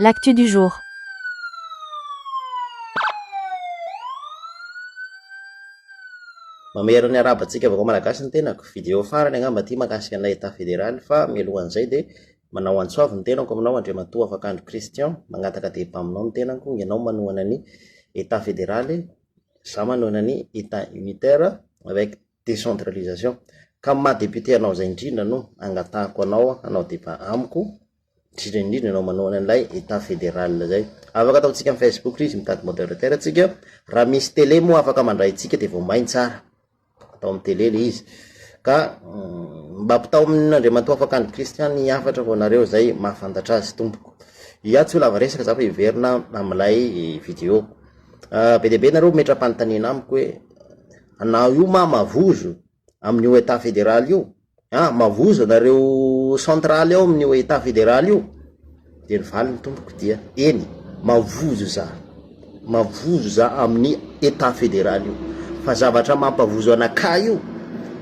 L'actu du jour. Mamehero ny araba tsika vaovao malagasy ny tenako, video farany angamba ty mahakasika an'ilay état fédéral fa mialohan'izay dia manao antso avo ny tenako aminao Andriamatoa Afakandro Christian, mangataka débat aminao ny tenako, ianao manohana ny état fédéral, za manohana ny état unitaire avec décentralisation ka amin'ny maha député anao izay indrindra no angatahako anao hanao débat amiko indrindra indrindra ianao manohana an'ilay état fédéral izay afaka ataontsika amin'ny facebook izy mitady moderateur tsika raha misy télé moa afaka mandray antsika dia vao main tsara atao amin'ny télé ilay izy ka mba ampitao amin'Andriamatoa Afakandry Christian ny hafatra ho anareo izay mahafantatra azy tompoko iah tsy ho lava resaka za fa hiverina amin'ilay video be dia be nareo metra-panontaniana amiko hoe anao io ma mavozo amin'io etat federal io an, mavozo anareo centrale ao amin'io etat federal io, de ny valiny tompoko dia eny mavozo za, mavozo za amin'ny etat federal io, fa zavatra mampavozo anakahy io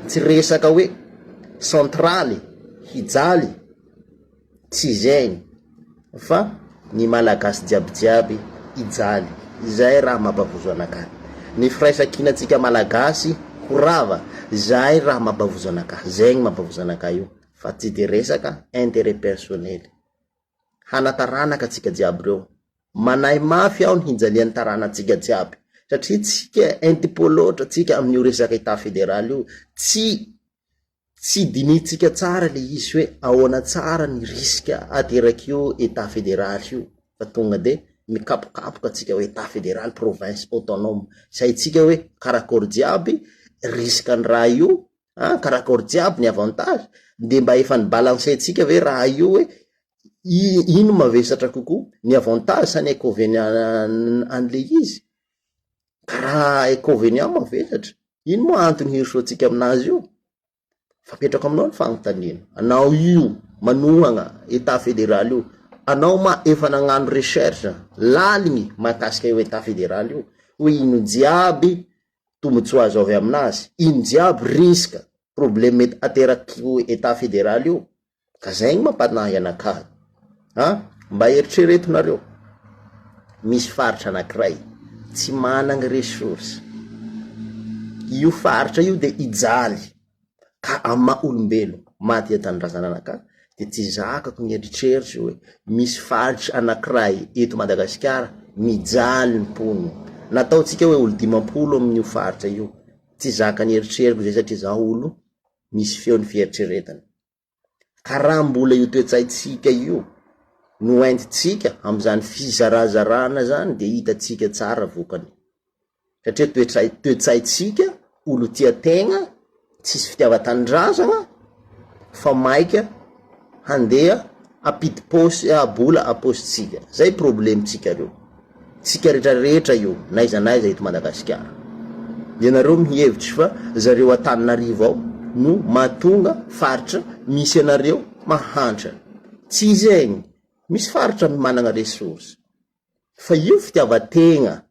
tsy resaka hoe centrale hijaly. Tsy izay fa ny Malagasy jiaby jiaby hijaly, izay raha mampavozo anakahy. Ny firaisan-kinantsika Malagasy ho rava, izay raha mampavozo anakahy. Izay no mampavozo anakahy io fa tsy dia resaka intérêt personnel. Hana taranaka tsika jiaby reo, manahy mafy aho ny hijalian'ny taranatsika jiaby satria tsika intipo loatra tsika amin'io resaka Etat federal io, tsy. tsy dinihintsika tsara le izy hoe ahoana tsara ny risque aterak'io Etat federal io fa tonga de mikapokapoka tsika hoe Etat federal, province, autonome, tsy haintsika hoe karakôry jiaby risque ny raha io an, karakôry jiaby ny avantage, de mba efa ni balancer tsika ve raha io hoe i- ino mavesatra kokoa, ny avantage sa ny inconvenient-n an'le izy, ka raha inconvenient mavesatra Ino moa antony hirosoantsika amin'azy io? Fa apetrako aminao ny fanontaniana, anao io manohana Etat federal io, anao ma efa nagnano recherche laligny mahakasika io Etat federal io hoe ino jiaby tombotsoa azo avy amin'azy, ino jiaby risque, probleme mety ateraky io Etat federal io? Ka zay no mampanahy anakahy an! mba eritrereto nareo, misy faritra anakiray tsy managny ressource, io faritra io de hijaly ka amin'ny maha olombelo maha tia tanindrazana anakahy de tsy zakako ny eritreritro hoe misy faritra anakiray eto Madagasikara mijaly ny mponina, na ataontsika hoe olo dimampolo amin'io faritra io, tsy zakan'ny eritreriko zay satria za olo misy feon'ny fieritreretana. ka raha mbola io toe-tsaintsika io no entintsika amin'izany fizarazarana zany de hitantsika tsara vokany, satria toetray toe-tsaintsika olo tia tegna, tsisy fitiavan-tanindrazagna fa maika handeha hampidi-paosy bola am-paosintsika, zay problemintsika reo. Tsika rehetra rehetra io n'aiza n'aiza eto Madagasikara. Ianareo mihevitry fa zareo Antananarivo ao no mahatonga faritra misy anareo mahantra. Tsy zegny. Misy faritra managna ressources. Fa io fitiavan-tegna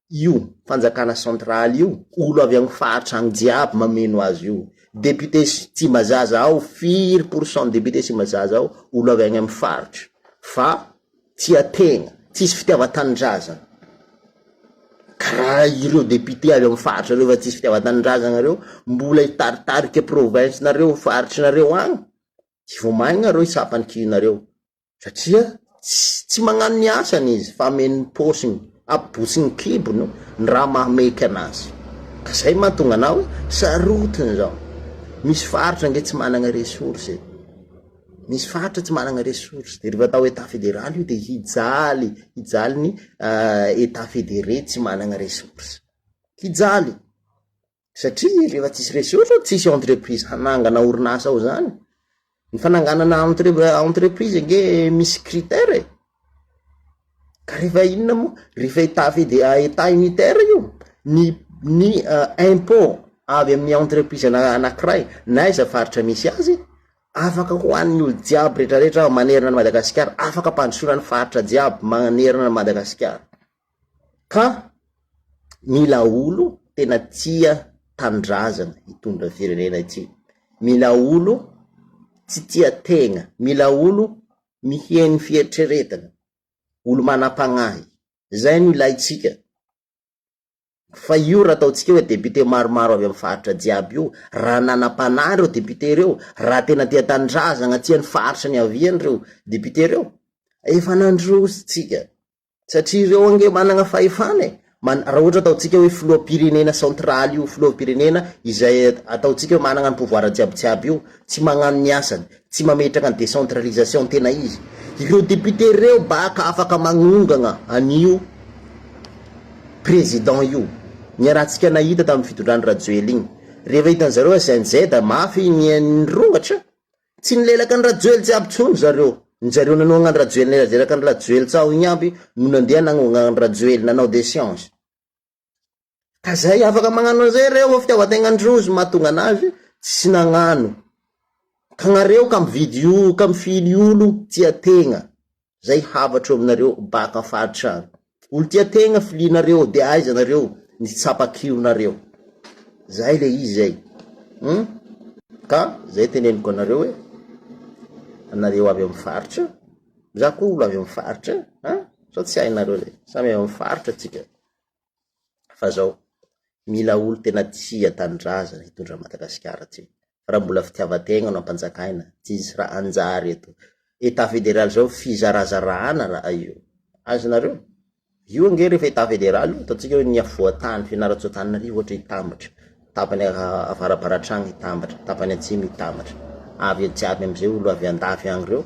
io fanjakana central io olo avy agny faritra agny jiaby mameno azy io député Tsimbazaza ao firy pourcent député Tsimbazaza ao olo avy agny amy faritra fa tia tegna tsisy fitiavan-tanindrazana karaha ireo député avy amy faritra reo fa tsisy fitiavan-tanindrazagna reo mbola hitaritarika province-nareo faritry nareo agny tsy vao maigna reo hitsapa ny kihinareo. Satria tsy magnano ny asany izy fa ameno ny paosiny, abotry ny kibony ny raha mahameka anazy. Ka zay mahatonga anao hoe sarotiny zao. Misy faritra ange tsy managna ressource e. Misy faritra tsy managna ressource de refa atao etat federal io de hijaly, hijaly ny etat federe tsy managna ressource. Hijaly. satria rehefa tsisy ressource ao tsisy entreprise hanangana orinasa ao zany ny fananganana entreprise ange misy critère e ka rehefa inona moa rehefa etat fedea etat unitaire io ny ny euh, impot avy amin'ny entreprise ana anakiray na iza faritra misy azy afaka ho an'ny olo jiaby retraretra manerana ny madagasikara afaka ampandrosoana ny faritra jiaby manerana ny madagasikara Ka mila olo tena tia tanindrazana hitondra ny firenena ity, mila olo tsy tia tegna, mila olo miheno fieritreretana, olo manam-pagnahy, zay no ilaintsika, fa io raha ataontsika hoe député maromaro avy amin'ny faritra jiaby io, raha nanam-panahy reo député reo, raha tena tia tanindrazana, tia ny faritra niaviany reo député reo, efa nandroso tsika. Satria ireo ange manana fahefana e! Man, raha ohatra ataontsika hoe filoham-pirenena central io, filoham-pirenena izay ataontsika hoe manana ny pouvoir jiabijiaby io, tsy magnano ny asany, tsy mametraka ny décentralisation tena izy, ireo députés reo baka afaka magnongana an'io président io, niarahantsika nahita tamin'ny fitondran-dRajoely iny, rehefa hitan'zareo SNZ mafy ny, ny rongatra, Tsy nilelaka an'i Rajoely jiaby tsony zareo. Ny zareo nanohagna an'i Rajoely nirajiraka an'i Rajoely tsaho igny aby no nandeha nagnohagna an'i Rajoely nanao des change. Ka zay afaka magnano an'izay reo fa fitiavan-tegnan-drozy mahatonga anazy tsy nagnano. Ka nareo ka mividy olo ka mifily olo tia tegna. zay havatro aminareo baka faritra any olo tia tegna filianareo de aiza nareo ny tsapakio nareo zay le izy zay hum ka zay teneniko anareo hoe anareo avy amy faritra za ko olo avy amy faritra an sa tsy hainareo le samy avy amy faritra tsika fa zao mila olo tena tia tanindrazana hitondra an'i Madagasikara ty, fa raha mbola fitiavan-tegna no ampanjakaina tsy hisy raha hanjary eto, etat federal zao fizarazarahana raha io, azonareo? io ange refa etat federal io ataontsika hoe ny afovoan-tany Fianarantsoa-Antananarivo ohatra hitambatra, tapany avarabaratr'an any hitambatra, tapany atsimo hitambatra, avy eo jiaby amizay olo avy andafy any reo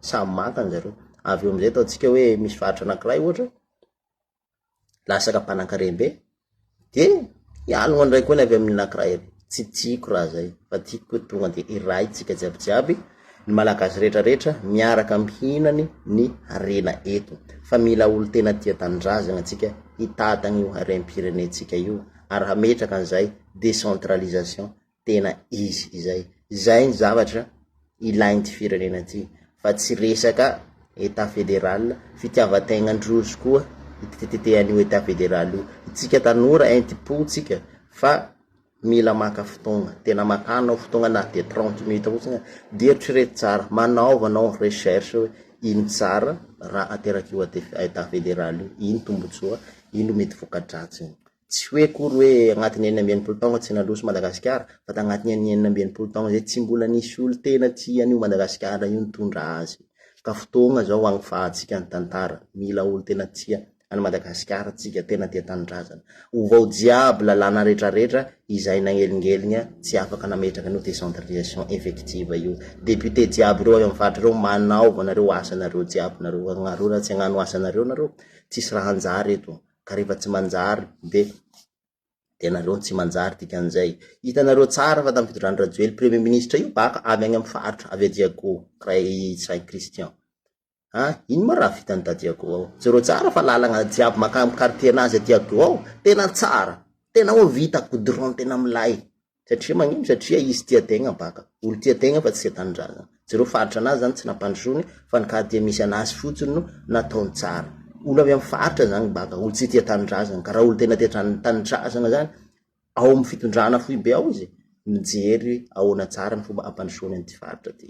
samy maka anjareo, avy eo amizay ataontsika hoe misy faritra anakiray ohatra, lasaka mpanakarem-be, de hialogna indray koa ny avy amin'ny anakiray avy, tsy tiako raha zay fa tiako hoe tonga de hiray tsika jiaby jiaby, ny Malagasy rehetra rehetra miaraka mihinany ny harena eto, fa mila olo tena tia tanindrazana tsika hitantana io harem-pirenentsika io, ary hametraka an'izay décentralisation. tena izy izay. Izay ny zavatra ilain'ity firenena ity fa tsy resaka Etat fédéral, fitiavan-tegnandrozy koa itetetetehan'io Etat fédéral io. Itsika tanora entim-pontsika fa mila maka fotoagna, tena makà anao fotoagna na dia trente minutes fotsiny, dia eritrereto tsara, manaova anao recherche hoe ino tsara raha aterak'io Etat fédéral io, ino tombotsoa, ino mety voka-dratsiny. Tsy hoe akory hoe agnatin'ny enina amby enimpolo taogna tsy nandroso Madagasikara, fa tagnatin'ny an'ny enina amby enimpolo taogna zay tsy mbola nisy olo tena tia an'io Madagasikara io nitondra azy. Ka fotoagna zao agnifahantsika ny tantara, mila olo tena tia an'i Madagasikara tsika, tena tia tanindrazana. Ovao jiaby lalàna retraretra izay nagnelingeligna tsy afaka nametraka an'io décentralisation effective io. Député jiaby reo avy amin'ny faritra reo manaova nareo asanareo jiaby nareo, agnareo raha tsy agnano asanareo nareo, tsisy raha hanjary eto. ka rehefa tsy manjary de de nareo no tsy manjary dikan'izay, hitanareo tsara fa tamin'ny fitondran'i Rajoelina premier ministre io bak avy any amin'ny faritra avy Ajeago Ray Saint Christian, ah ino ma raha vitan'i Dadiago ao, jereo tsara fa lalagna jiaby makany amin'ny quartier-nazy aty Ago ao tena tsara, tena ho vita goudron tena milay, Satria magnino? Satria izy tia tegna baka. Olo tia tegna fa tsy tia tanindrazana. Jereo faritra anazy zany tsy nampandrosoany fa ny ka tia misy anazy fotsiny no nataony tsara. Olo avy am faritra zany baka, olo tsy tia tanindrazana. Ka raha olo tegna tia tran tanindrazana zany ao am fitondrana foibe ao izy mijery ahoana tsara ny fomba hampandrosoany anty faritra ty.